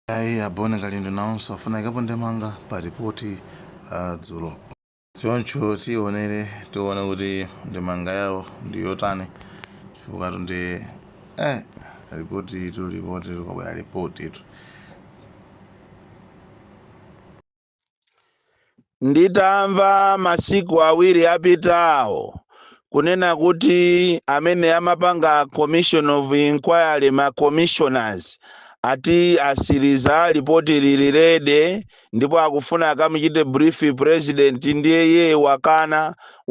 Ayi a Bon Kalindo nawonso afuna aikepo ndemanga pa ripoti la dzulo. Choncho tionere tione kuti ndemanga yawo ndi yotani chifukwa tu nde eh ripoti itu ripoti likabwera ripoti itu. Nditamva masiku awiri apitawo kunena kuti amene amapanga commission of inquiry ma commissioners ati asiriza lipoti lili ready ndipo akufuna akamuchite brief president ndiye iye wakana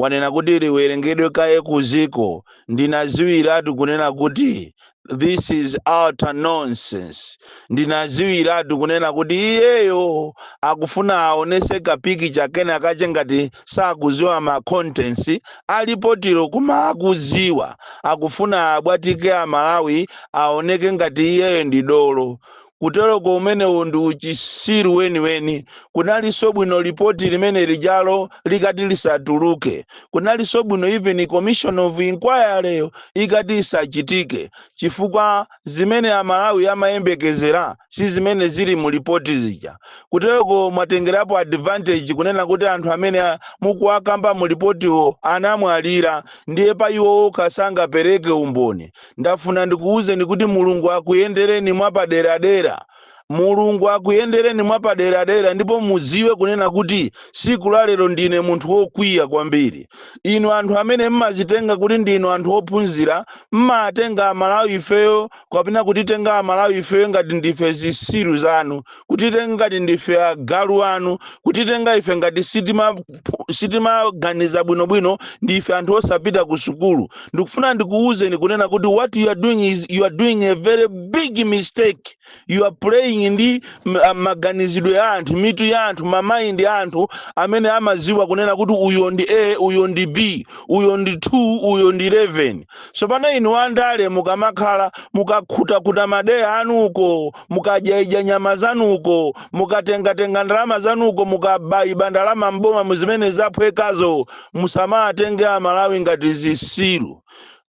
wanena kuti liwerengedwe kaye kuziko ndinaziwiratu kunena kuti this is utter nonsense ndinaziwiratu kunena kuti iyeyo akufuna aonese ka picture kena kache ngati sakuziwa ma contents alipotilo koma akuziwa akufuna abwatike amalawi aoneke ngati iyeyo ndi dolo kuteroko umenewo ndi uchisiru weniweni. Kunalinso bwino lipoti limene lijalo likati lisatuluke. Kunalinso bwino even commission of inquiry yo ikati isachitike chifukwa zimene Amalawi amayembekezera si zimene zili mu lipoti zija. Kuteroko mwatengerapo advantage kunena kuti anthu amene mukuwakamba mu lipotiwo anamwalira ndiye pa iwo okha sangapereke umboni. Ndafuna ndikuuzeni kuti Mulungu akuyendereni mwapaderadera. Mulungu akuyendereni mwapaderadera ndipo muziwe kunena kuti siku la lero ndine munthu wokwiya kwambiri. Inu anthu amene mmazitenga kuti ndinu anthu ophunzira mmatenga amalawi ifeyo kapena kutitenga amalawi ifeyo ngati ndife zisiru zanu. kutitenga ngati ndife agalu anu kutitenga ife ngati sitima sitimaganiza bwinobwino ndi ife anthu osapita ku sukulu ndikufuna ndikuwuzeni kunena kuti what you are doing is you are doing a very big mistake you are playing ndi m- a- maganizidwe ya anthu mitu ya anthu mamaindi ya anthu amene amaziwa kunena kuti uyo ndi a uyo ndi b uyo ndi 2 uyo ndi 11 tsopano inu andale mukamakhala mukakhutakhuta madeya anuko mukadyaidya nyama zanuko mukatengatenga ndalama zanuko mukabaiba ndalama mboma muzimene zaphwekazo musamatenge amalawi ngati zisiru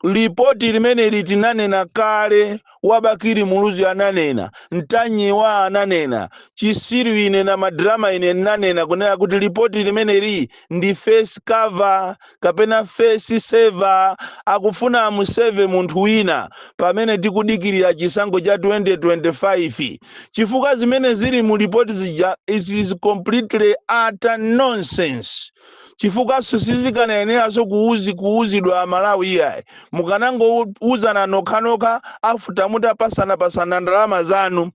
lipoti limeneli tinanena kale wa Bakili Muluzi ananena Ntanyiwa ananena chisiru ine na madrama ine ndinanena kunena kuti lipoti limeneli ndi face cover kapena face saver akufuna amuseve munthu wina pamene tikudikirira chisankho cha 2025 chifukwa zimene zili mu lipoti zija it is completely utter nonsense chifukwanso sizikanayeneranso kuuzi kuuzidwa amalawi iyayi mukanangouzana nokhanokha after mutapasanapasana ndalama zanu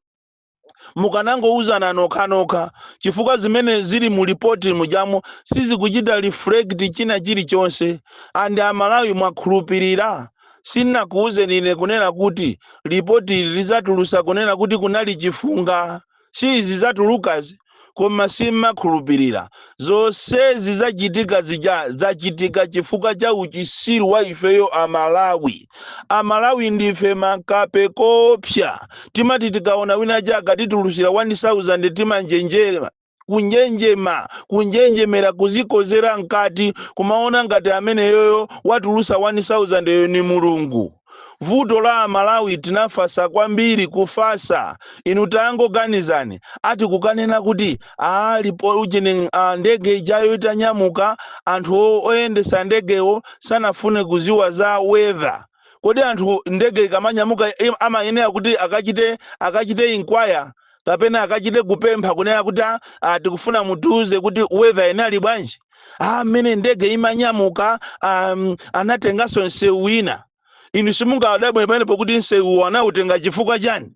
mukanangouzana nokhanokha chifukwa zimene zili mu lipoti mujamo sizikuchita reflect china chilichonse and amalawi mwakhulupirira sindinakuuzeni ine kunena kuti lipoti ili lizatulusa kunena kuti kunali chifunga si izi zatulukazi koma simmakhulupirira. Zonsezi zachitika zija zachitika chifukwa cha uchisiru wa ifeyo a Malawi. A Malawi ndife makape koopsa. Timati tikaona wina wake atitulutsira 1000 timanjenjema, kunjenjema, kunjenjemera kuzikozera mkati kumaona ngati ameneyoyo watulutsa 1000 yo ni Mulungu. vuto la amalawi tinafasa kwambiri kufasa inu tangoganizani ati kukanena kuti ali pa ujeni ndege ijayo itanyamuka anthu o- oyendesa ndegewo sanafune kuziwa za weather kodi anthu ndege ikamanyamuka im- amayenera kuti akachite akachite inquire kapena akachite kupempha kunena kuti "Ah, ah, tikufuna mutiuze kuti weather inali bwanji ah mmene ndege imanyamuka um, anatenganso msewu wina inu simungadabwe pamenepo kuti msewuwo anautenga chifukwa chani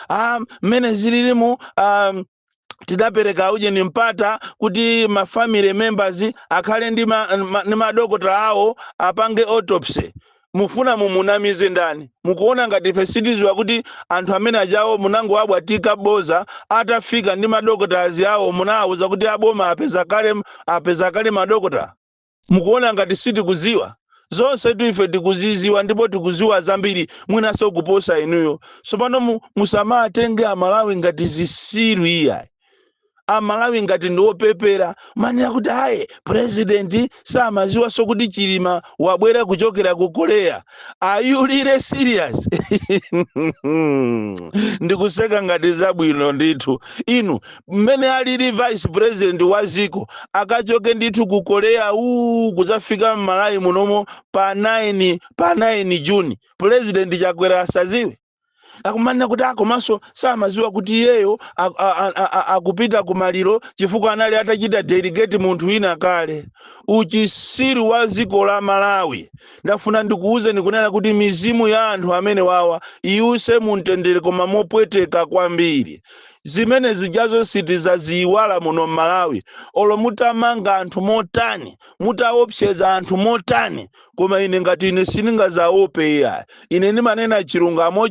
ah mmene zililimu um, tidapereka ujeni mpata kuti ma family members akhale ndi ma, ma, ndi madokotala awo apange autopsy mufuna mumunamize ndani? mukuona ngati ife sitiziwa kuti anthu amene ajawo munangowabwatika boza atafika ndi madokotala awo munawauza kuti aboma apeza kale apeza kale madokotala? mukuona ngati sitikuziwa? zonsetu ife tikuziziwa ndipo tikuziwa zambiri mwinaso kuposa inuyo tsopano mu, musamatenge amalawi ngati zisiru iyayi. amalawi ngati ndi opepera kumanena kuti ayi purezidenti samaziwanso kuti chilima wabwera kuchokera ku korea are you really serious ndikuseka ngati zabwino ndithu inu mmene alili vice president wa ziko akachoke ndithu ku korea uu kuzafika mmalawi munomo pa 9 pa 9 juni purezidenti chakwera asaziwe akumanena kuti ah, komanso samaziwa kuti iyeyo ak- a- a- a- a- akupita ku maliro chifukwa anali atachita delegate munthu wina kale uchisiru wa dziko la malawi ndafuna ndikuwuzeni kunena kuti mizimu ya anthu amene wawa iwuse mumtendere koma mopweteka kwambiri zimene zijazo sitizaziyiwala muno m'malawi olo mutamanga anthu motani mutaopseza anthu motani koma ine ngati ine sindingazaope iya ine ndimanena chilungamo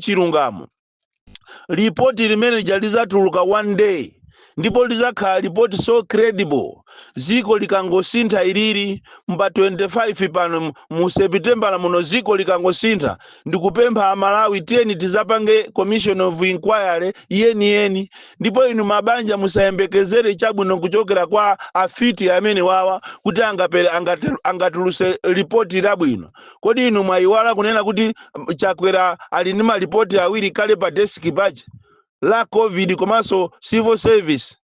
lipoti limene lija lizatuluka one day ndipo lizakhala lipoti so credible ziko likangosintha ilili mma 25 pano mu- mu sepitembala muno ziko likangosintha ndikupempha amalawi tiyeni tizapange commission of inquiry yeniyeni ndipo inu mabanja musayembekezere chabwino kuchokera kwa afiti amene wawa kuti angapere angate- angatuluse lipoti labwino kodi inu mwayiwala kunena kuti mm, chakwera ali ndi malipoti awiri kale pa desiki pache la covid komanso civil service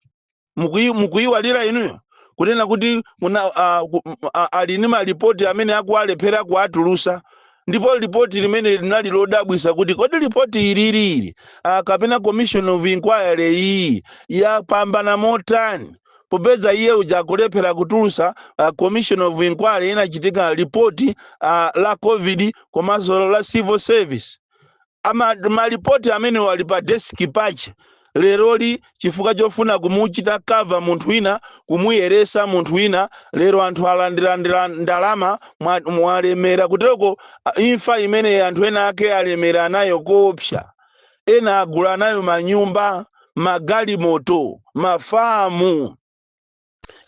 Mukuyi- mukuyiwalira inuyo kunena kuti muna, uh, ku, m- a- ali ndi malipoti amene akuwalephera kuwatulusa ndipo lipoti limeneli linali lodabwisa kuti kodi lipoti ilili ili ah, kapena commission of inquiry iyi yapambana motani popeza iye uja akulephera kutulusa uh, commission of inquiry inachitika lipoti uh, la covid komanso la civil service Ama, malipoti amenewo ali pa desk pache leroli chifukwa chofuna kumuchita cover munthu wina kumuyeresa munthu wina lero anthu alandira ndira- ndalama mwa- mwalemera kutereko a- imfa imene anthu ena ake alemera nayo koopsa ena agula nayo manyumba magalimoto mafamu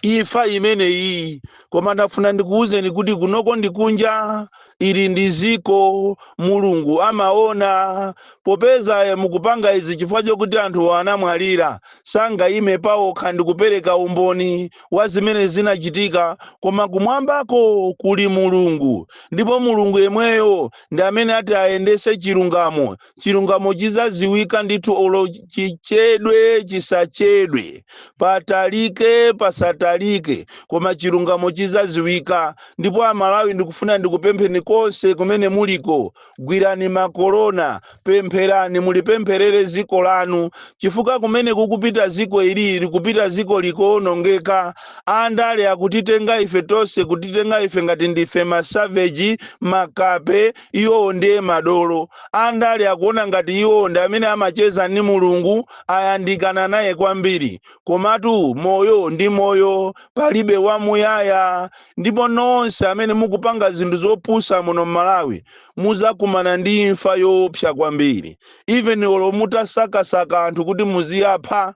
imfa imeneyi koma ndafuna ndikuwuzeni kuti kunoko ndi kunja ili ndi ziko mulungu amaona popeza eh, mukupanga izi chifukwa chokuti anthu anamwalira sangayime paokha ndi kupereka umboni wa zimene zinachitika koma kumwambako kuli mulungu ndipo mulungu yemweyo ndi amene ati ayendese chilungamo chilungamo chizaziwika ndithu olo chichedwe chisachedwe patalike pasatalike koma chilungamo chizaziwika ndipo amalawi ndikufuna ndikupempheni konse kumene muliko gwirani makorona pempherani mulipempherere ziko lanu chifukwa kumene kukupita ziko ili likupita ziko likuonongeka andale akutitenga ife tonse kutitenga ife ngati ndife masaveji makape Iwowo ndiye madolo. Andale akuona ngati iwowo ndi amene amacheza ndi Mulungu, ayandikana naye kwambiri. Komatu moyo ndi moyo, palibe wamuyaya. Ndipo nonse amene mukupanga zinthu zopusa muno m'Malawi muzakumana ndi imfa yoopsa kwambiri. Even olo mutasakasaka anthu kuti muziapha,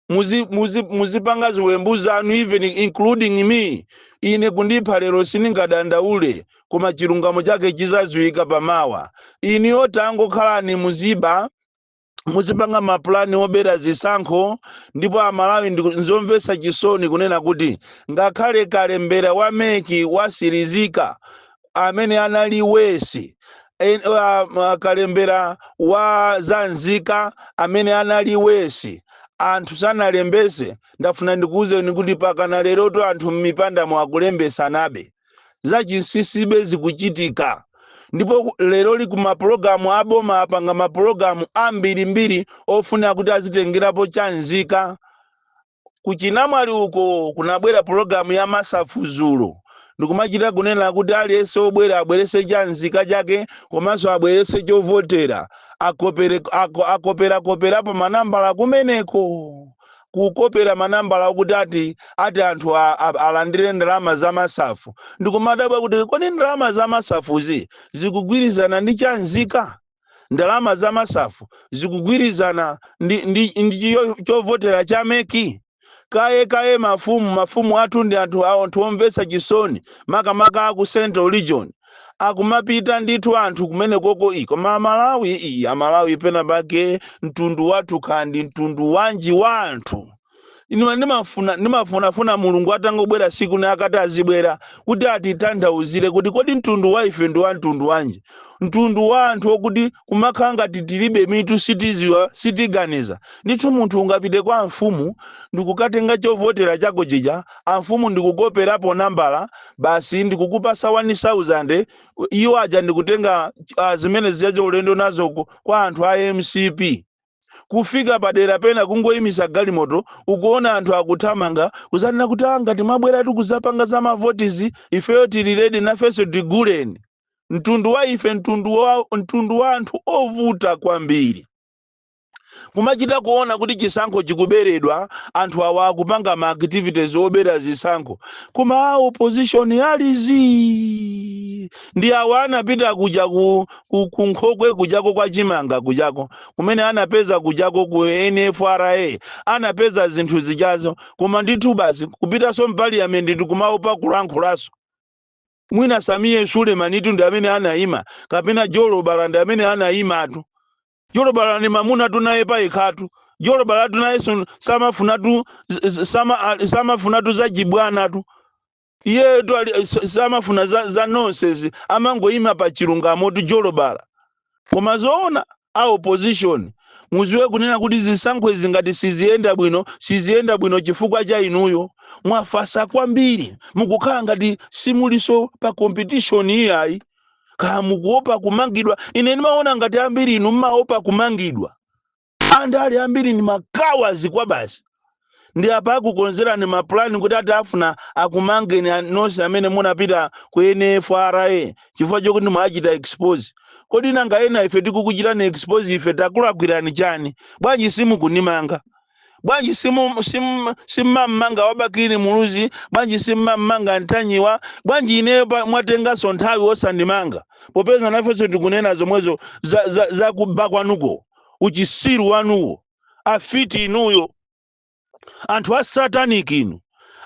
muzi, muzi, muzipanga ziwembu zanu even including me ine kundipha lero sindingadandaule koma chilungamo chake chizaziwika pamawa inuyo tangokhalani muziba muzipanga mapulani obera zisankho ndipo amalawi ndiku- nzomvetsa chisoni kunena kuti ngakhale kalembera wa meki watsirizika amene anali wesi en- ah, ma- kalembera wa za nzika amene anali wesi anthu sanalembese ndafuna ndikuwuzeni kuti mpakana lerotu anthu m'mipanda mo akulembetsanabe zachinsisibe zikuchitika ndipo ku- leroli kumapulogalamu aboma apanga mapulogalamu ambirimbiri ofuna kuti azitengerapo cha nzika kuchinamwali uko kunabwera pulogalamu ya MASAF dzulo, ndikumachita kunena kuti aliyense wobwera abweretse cha nzika chake komanso abweretse chovotera, akopere, ako, akoperakoperapo manambala kumeneko, kukopera manambala okuti ati, ati anthu a, a, alandire ndalama za MASAF. Ndikumadabwa kuti kodi ndalama za MASAF-zi zikugwirizana ndi cha nzika? ndalama za MASAF zikugwirizana ndi, ndi, ndi chiyo- chovotera cha MEC kaye kaye mafumu mafumu athu ndi anthu awo anthu omvetsa chisoni makamaka aku central region akumapita ndithu anthu kumenekoko ii koma amalawi ii amalawi pena pake mtundu wathu kaya ndi mtundu wanji wa anthu Inu ndimafuna ndimafunafuna Mulungu atangobwera siku lina akati azibwera kuti atitanthauzire kuti kodi mtundu wa ife ndi wa mtundu wanji. Mtundu wa anthu okuti kumakhala ngati tilibe mitu sitiziwa sitiganiza. Ndithu munthu ungapite kwa amfumu ndikukatenga chovotera chako chija amfumu ndikukoperapo nambala basi ndikukupasa wani sauzande iwo aja ndikutenga zimene zija ulendo nazo kwa anthu a mcp. kufika padera pena kungoyimisa galimoto ukuona anthu akuthamanga kuzanena kuti ah ngati mwabwera kuzapanga za mavotizi ifeyo tili ready nafenso tiguleni mtundu wa ife mtundu wa, mtundu wa anthu ovuta kwambiri kumachita kuona kuti chisankho chikuberedwa anthu awa akupanga ma activities obera zisankho koma a opposition ali zii ndi awa anapita kuja ku ku ku nkhokwe kujako kwa chimanga kujako kumene anapeza kujako ku nfra anapeza zinthu zijazo koma ndithu basi kupitanso mpaliyamenti kumaopa kulankhulaso mwina Sameer Suleman-tu ndi amene anayima kapena jolobala ndi amene anayimatu jolobala ndi mamunatu naye payekhatu jolobalatu nayenso samafunatu z- z- sama- a- samafunatu zachibwanatu iyeyotu ali s- samafuna za, za nonsense amangoyima pa chilungamotu jolobala koma zoona a opposition muziwe kunena kuti zisankho izi ngati siziyenda bwino siziyenda bwino chifukwa cha inuyo mwafasa kwambiri mukukhala ngati simuliso pa competition iyayi kaya mukuopa kumangidwa ine ndimaona ngati ambiri inu mmaopa kumangidwa andale ambiri ndi makawadzi kwabasi ndi apa akukonzerani mapulani kuti ati akufuna akumangeni a- nonse amene munapita ku NFRA chifukwa chokuti mwachita expose kodi nanga ena ife tikukuchitani expose ife takulakwirani chani bwanji simukunimanga bwanji simu- simu- simmam'manga wa Bakili Muluzi bwanji simmam'manga Ntanyiwa bwanji ineyo pa- mwatenganso nthawi osandimanga popeza nafenso tikunena zomwezo za, za, za kuba kwanuko uchisiru wanuwo afiti inuyo anthu a satanic inu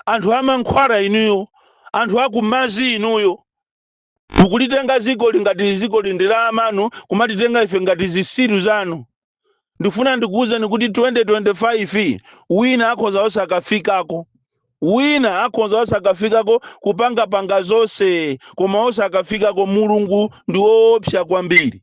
anthu amankhwala inuyo anthu akumadzi inuyo mukulitenga dzikoli ngati dzikoli ndi la amanu kumatitenga ife ngati zisiru zanu ndifuna ndikuwuzeni kuti 2025 wina akhoza osakafikako wina akhoza osakafikako kupangapanga zonse koma osakafikako mulungu ndi woopsa kwambiri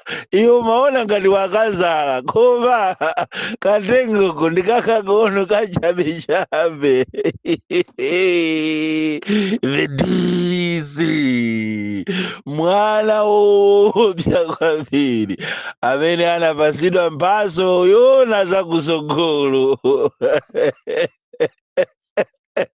iwe umaona ngati wakadzala koma kamtengoko ndi kakang'ono kachabechabe The DC mwana woopsa kwambiri amene anapatsidwa mphatso yoona zakutsogolo